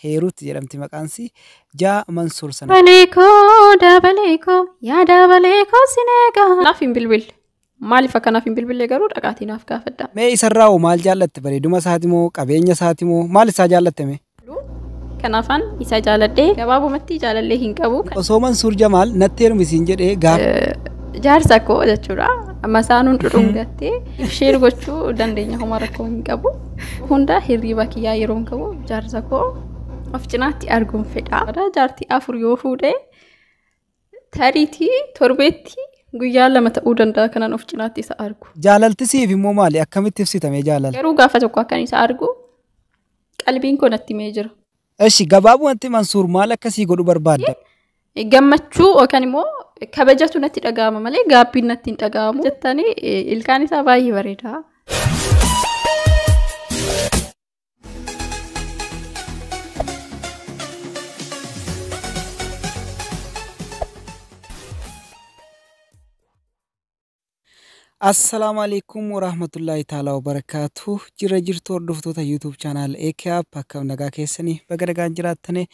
Heerut jedhamti maqaansi. Jaa Mansuur sana. Dabalee koo dabalee koo yaa dabalee koo sin eegaa. Naaf hin bilbille. Maaliif akka naaf hin bilbille garuu dhaqaatii naaf gaafadhaa. Mee isarraa hoo maal jaallatte bareeduma isaati moo qabeenya isaati moo maal isaa jaallatte mee? Kanaafaan isa jaaladhee gabaabumatti jaalallee hin qabu. Osoo Mansuur Jamaal natti heerumi siin jedhee gaaf. Jaarsa koo jechuudha. Masaanuun dhudhungattee. Sheer gochuu dandeenya homaa rakkoo hin qabu. Hunda hirriiba kiyyaa yeroon qabu jaarsa koo of cinaatti arguun fedha. Jaartii afur yoo fuudhe tariitii torbeetti guyyaa lama ta'uu danda'a kanan of cinaatti isa argu. Jaalalti siif immoo maali? Akkamitti ibsitamee jaalala? Garuu gaafa tokko akkan isa argu qalbiin koo natti mee jira. Eshi gabaabumatti Mansuur maal akka sii godhu barbaadda? gammachuu yookaan immoo kabajatu natti dhaga'ama malee gaabbiin natti hin dhaga'amu jettanii eh, ilkaan isaa baay'ee bareeda. Assalaamu alaikum warahmatullaahi taalaa wabarakaatu jira jirtu hordoftoota YouTube channel AKAP akkam nagaa keessanii baga nagaan jiraattane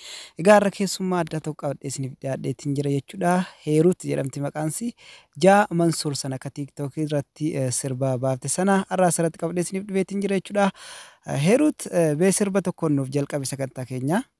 egaa irra keessummaa adda tokko qabadhee isiniif dhiyaadheetiin jira jechuudha Heeruut jedhamti maqaansi jaa Mansuur sana akka TikTok irratti eh, sirba baafte sana har'aa asirratti qabadhee isiniif dhiyeetiin jira jechuudha Heeruut eh, mee sirba tokkoon nuuf jalqabi sagantaa keenya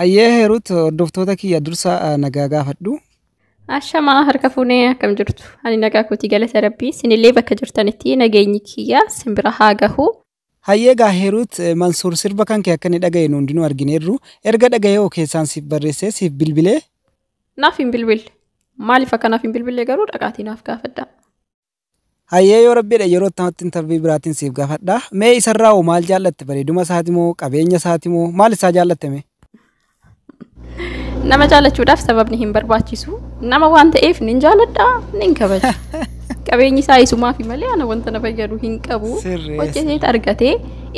Hayyee Heerut hordoftoota kiyya dursa eh, nagaa gaafadhu. Ashamaa harka fuunee akkam jirtu? Ani nagaa kootii galata rabbii. Sinillee bakka jirtanitti nageenyi kiyya simbira haa gahu. Hayyee egaa Hiruut Mansuur sirba kan kee akka inni dhagaye nu hundinuu argineerru. Erga dhagaye hoo keessaan siif barreessee siif bilbilee? Naaf hin bilbille. Maaliif akka naaf hin bilbille garuu dhaqaatii naaf gaafadhaa. Hayyee yoo rabbi jedhe yeroo itti intervii biraatiin siif gaafadha. Mee isarraa hoo maal jaallatte? Bareeduma isaati moo qabeenya isaati moo maal isaa jaallatte mee? Nama jaalachuudhaaf sababni hin barbaachisu. Nama waan ta'eef nin jaaladha, nin kabaja. Qabeenyi isaa isumaafi malee ana wanta na fayyadu hin qabu. Sirreessa. Hojjeteet argatee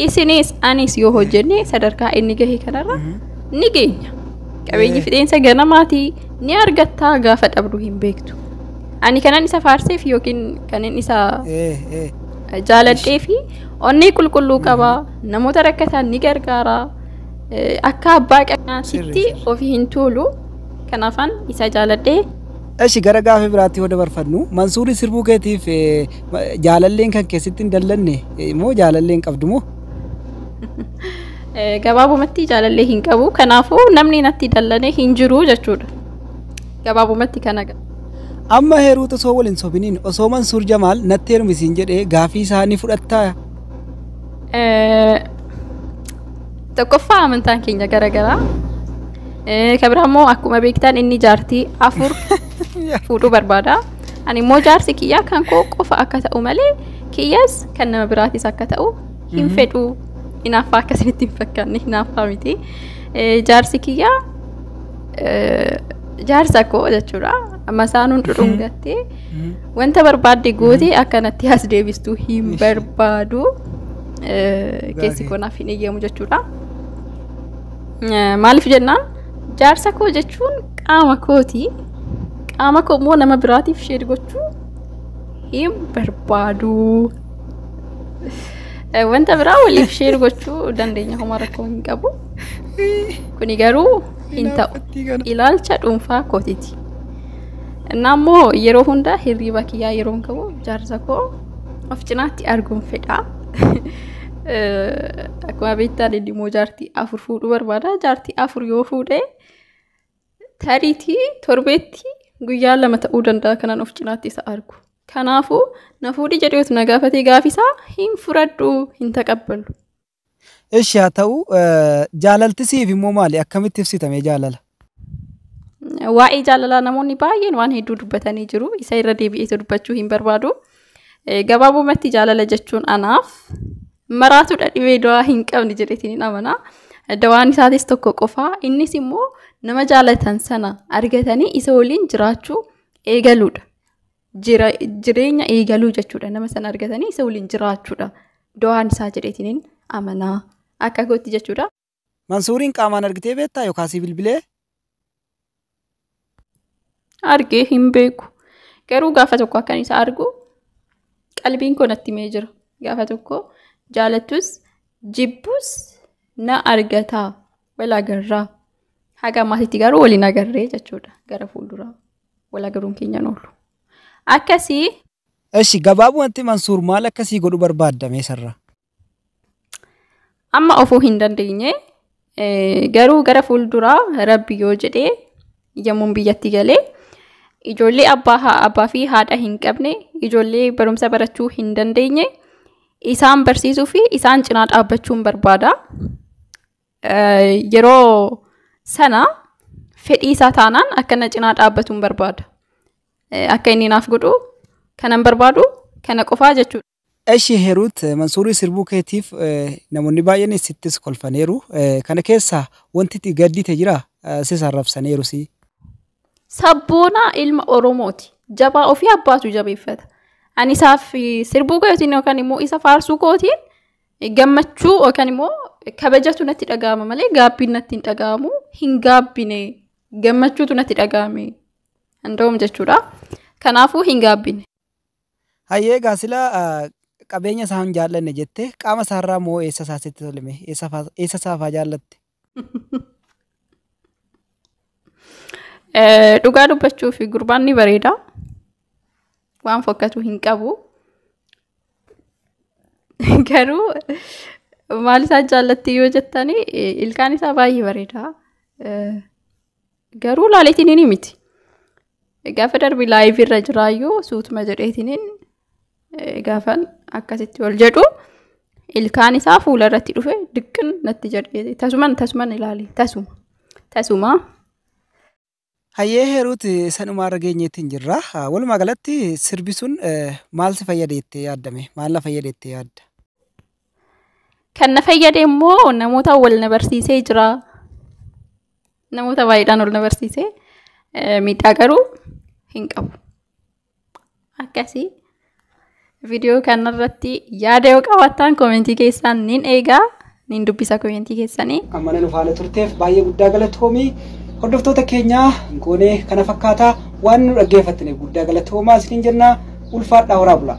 isinis anis yoo hojjenne sadarkaa inni gahe kanarra ni geenya. Qabeenyi Eh. fixeensa ganamaati ni argattaa gaafa dhabdu hin beektu. Ani kanan isa faarseef yookiin kanan isa Eh, eh. jaaladhee fi onnee qulqulluu qaba namoota rakkatan ni gargaara Akka abbaa qabeenyaatitti ofii hin tuulu. Kanaafan isa jaaladhee. Eshi gara gaaffii biraatti yoo dabarfannu Mansuurii sirbuu keetiif jaalalleen kan keessatti hin dallanne moo jaalalleen qabdu moo? Gabaabumatti jaalallee hin qabu. Kanaafuu namni natti dallane hin jiru jechuudha. Gabaabumatti kana qaba. Amma heeruutu osoo wal hin sobiniin osoo Mansuur Jamaal natti heerumisiin jedhee gaaffii isaa ni fudhattaa? Tokkoffaa amantaan keenya garagaraa. Kan biraa immoo akkuma beektan inni jaartii afur fuudhuu barbaada. Ani immoo jaarsi kiyyaa kan koo qofa akka ta'u malee kiyyas kan nama biraatis akka ta'u hin fedhu. Hinaaffaa akkasinitti hin fakkaanne hinaaffaa miti. Jaarsi kiyyaa jaarsa koo jechuudha. Masaanuun dhudhungattee wanta barbaadde gootee akkanatti as deebistu hin barbaadu. keessi koo naaf hin eeyyamu jechuudha. Maaliif jennaan jaarsa koo jechuun qaama kooti. Qaama koo immoo nama biraatiif sheer gochuu hin barbaadu. Wanta biraa waliif sheer gochuu dandeenya homaa rakkoo hin qabu. Kuni garuu hin ta'u. Ilaalcha dhuunfaa kootiti. Innaa immoo yeroo hunda hirriiba kiyyaa yeroon ka'u jaarsa koo of cinaatti arguun fedha. Akkuma beektaan inni immoo jaartii afur fuudhuu barbaada. Jaartii afur yoo fuudhe tariitii torbeetti guyyaa lama ta'uu danda'a kanan of cinaatti isa argu. Kanaafuu na fuudhi jedheetu na gaafatee gaafisaa hin fudhadhu hin taqabbalu. Eshi haa ta'u jaalalti siif immoo maali akkamitti ibsita mee jaalala? Waa'ee jaalalaa namoonni baay'een waan hedduu dubbatanii jiru. Isa irra deebi'eetu dubbachuu hin barbaadu. Gabaabumatti jaalala jechuun anaaf maraatudha dhibee dawaa hin qabne jedheetiin amana. Dawaan isaatis tokko qofa. Innis immoo nama jaalatan sana argatanii isa waliin jiraachuu eegaluudha. jireenya eegaluu jechuudha nama sana argatanii isa waliin jiraachuudha do'aan isaa jedheetiniin amanaa akka gootti jechuudha. Mansuuriin qaamaan argitee beektaa yookaan si bilbilee? Argee hin beeku garuu gaafa tokko akkan isa argu qalbiin koo natti himee jira gaafa tokko jaalattus jibbus na argataa wal agarraa haga maatiitti garuu waliin agarree jechuudha gara fuulduraa. Wal agaruun keenyan oolu. Akkasii. Eshi gabaabumatti Mansuur maal akka sii godhu barbaadda mee sarraa? Amma ofuu hin dandeenye garuu gara fuulduraa rabbi yoo jedhee yommuun biyyatti galee ijoollee abbaa abbaa fi haadha hin qabne ijoollee barumsa barachuu hin dandeenye isaan barsiisuu fi isaan cinaa dhaabbachuun barbaada. yeroo sana fedhii isaa taanaan akka na cinaa dhaabbatu hin barbaada. Akka inni naaf godhu kanan barbaadu kana qofaa jechuudha. Eshi Heruut Mansuurii sirbuu keetiif namoonni baay'een sittis kolfaniiru. Kana keessaa wanti itti gaddite jira sis arrabsaniiru si. Sabboona ilma Oromooti. Jabaa ofii abbaatu jabeeffata. Ani isaaf sirbuu kootiin yookaan immoo isa faarsuu kootiin gammachuu yookaan immoo kabajatu natti dhaga'ama malee gaabbiin natti hin dhaga'amu hin gaabbine gammachuutu natti dhaga'ame handa'uum jechuudha. Kanaafuu hin gaabbine. Hayyee egaa sila qabeenya isaa hin jaallanne jette qaama isaarraa moo eessa isaa sitti tolime eessa isaa faa jaallatte Eh, Dhugaa dubbachuuf gurbaan ni bareeda. Waan fokkatu hin qabu. Garuu maal isaa jaallatti yoo jettani eh, ilkaan isaa baay'ee bareeda. Eh, Garuu laaleetiin ni miti. Gaafa darbi laayivii irra jiraayyuu suutuma jedheetiniin gaafan akkasitti ol jedhu ilkaan isaa fuula irratti dhufe diqqin natti jedhe tasuman tasuman ilaali tasuma tasuma. Hayyee heeruut sanuma irra geenyeetiin jirra. Walumaa galatti sirbi sun maal si fayyada jettee yaaddame? Maal na fayyada jettee yaadda? Kan na fayyade immoo namoota wal na barsiisee jira. Namoota baay'eedhaan ol na barsiise miidhaa garuu hin qabu. Akkasii viidiyoo kanarratti yaada yoo qabaattan koomentii keessaan nin eegaa nin dubbisa koomentii keessanii. Ammana nu faana turteef baay'ee guddaa galatoomi. Hordoftoota keenya goonee kana fakkaata waan nu dhaggeeffattaniif guddaa galatoomaa isiniin jenna ulfaadhaa horaa bulaa.